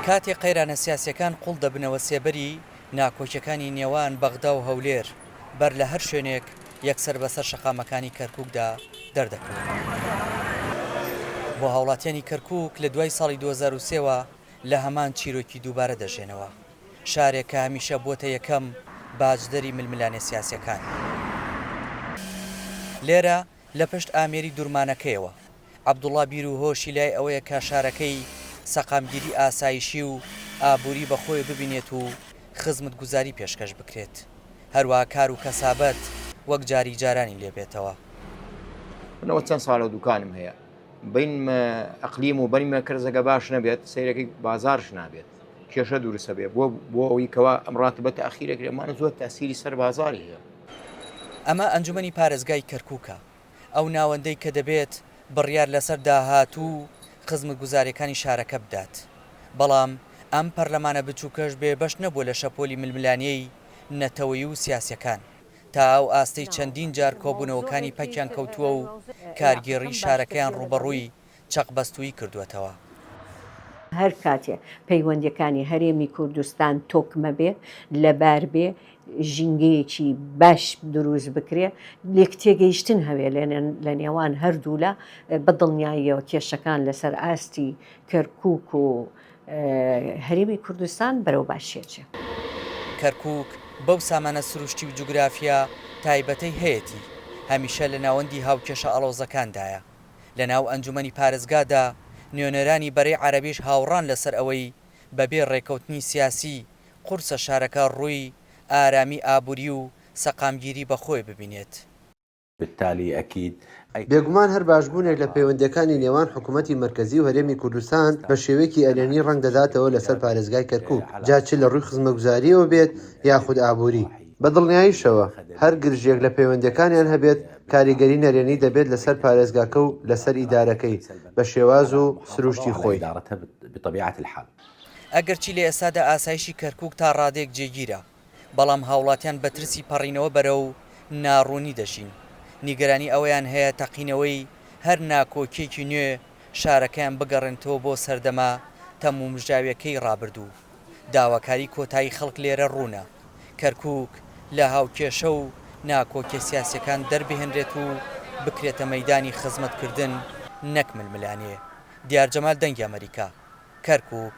کاتێک قەیرانە سیاسییەکان قوڵ دەبنەوە سێبەری ناکۆکیەکانی نێوان بەغدا و هەولێر بەر لە هەر شوێنێک یەکسەر بەسەر شەقامەکانی کەرکوکدا دەردەکەون. بۆ هاوڵاتیانی کەرکوک لە دوای ساڵی دوو هەزار و سێ وە لە هەمان چیرۆکی دووبارە دەژێنەوە. شارێک کە هەمیشە بووەتە یەکەم باجدەری ململانێ سیاسیەکان. لێرە لە پشت ئامێری دورمانەکەیەوە، عەبدوڵا بیروهۆشی لای ئەوەیە کە شارەکەی سەقامگیری ئاسایشی و ئابوری بە خۆێ ببینێت و خزمتگوزاری پێشکەش بکرێت، هەروەها کار و کەسابەت وەک جاری جارانی لێ بێتەوە. من ئەوە چەند ساڵە دوکانم هەیە بەین مە ئەقلیم و بەین مە کەرزەگە باش نەبێت سەیرەکەی بازارش نابێت کێشە دورسەبێ بۆ بۆ ئەوی کەوا ئەم ڕاتبە تاخیرەکرێ مانە زۆر تاسیری سەر بازاری هەیە. ئەمە ئەنجومەنی پارێزگای کەرکوکە، ئەو ناوەندەی کە دەبێت بڕیار لەسەر داهاتوو و خزمگوزاریەکانی شارەکە بدات، بەڵام ئەم پەرلەمانە بچوکەش بێ بەش نەبووە لە شەپۆلی ململانێی نەتەوەی و سیاسیەکان تا ئەو ئاستەی چەندین جار کۆبونەوەکانی پەکیان کەوتووە و کارگێڕی شارەکەیان ڕوبەڕوی چەق بەستووی کردووەتەوە. هەرکاتێ پەیوەندیەکانی هەرێمی کوردستان تۆکمە بێ، لەبار بێ، ژینگەیەکی باش دروست بکرێ، لێک تێگەیشتن هەبێ لە نێوان هەردوولا، بە دڵنیاییەوە کێشەکان لەسەر ئاستی کەرکوک و هەرێمی کوردستان بەرەو باشی ئەچێ. کەرکوک بەو سامانە سروشتی و جوگرافیا تایبەتەی هەیەتی، هەمیشە لە ناوەندی هاوکێشە ئاڵۆزەکاندایە. لە ناو ئەنجومەنی پارێزگادا، نوێنەرانی بەرەی عەرەبیش هاوڕان لەسەر ئەوەی بەبێ ڕێککەوتنی سیاسی، قورسە شارەکە ڕووی ئارامی ئابووری و سەقامگیری بەخۆی ببینێت. بالتالی اکید. بێگومان هەر باشبوونێک لە پەیوەندییەکانی نێوان حکوومەتی مەرکەزی و هەرێمی کوردستان بە شێوەیەکی ئەرێنی ڕەنگ دەداتەوە لەسەر پارێزگای کەرکووک، جا چ لە ڕووی خزمەگوزارییەوە بێت یاخود ئابووری. بە دڵنیاییشەوە هەر گرژییەک لە پەیوەندییەکانیان هەبێت، کاریگەری نەرێنی دەبێت لەسەر پارێزگاکە و لەسەر ئیدارەکەی بە شێواز و سرووشتی خۆی. ئەگەرچی لە ئێستادا ئاسایشی کەرکووک تا ڕادەیەک جێگیرە، بەڵام هاوڵاتیان بە ترسی پەڕینەوە بەرەو ناڕوونی دەژین، نیگەرانی ئەوەیان هەیە تەقینەوەی هەر ناکۆکییەکی نوێ شارەکەیان بگەڕێنێتەوە بۆ سەردەمە تەمومژاوییەکەی ڕابردوو. داواکاری کۆتایی خەڵک لێرە ڕوونە. کەرکووک لە هاوکێشە و ناکۆکیە سیاسیەکان دەربهێنرێت و بکرێتە مەیدانی خزمەتکردن نەک ململانێ. دیار جەمال دەنگی ئەمەریکا، کەرکووک.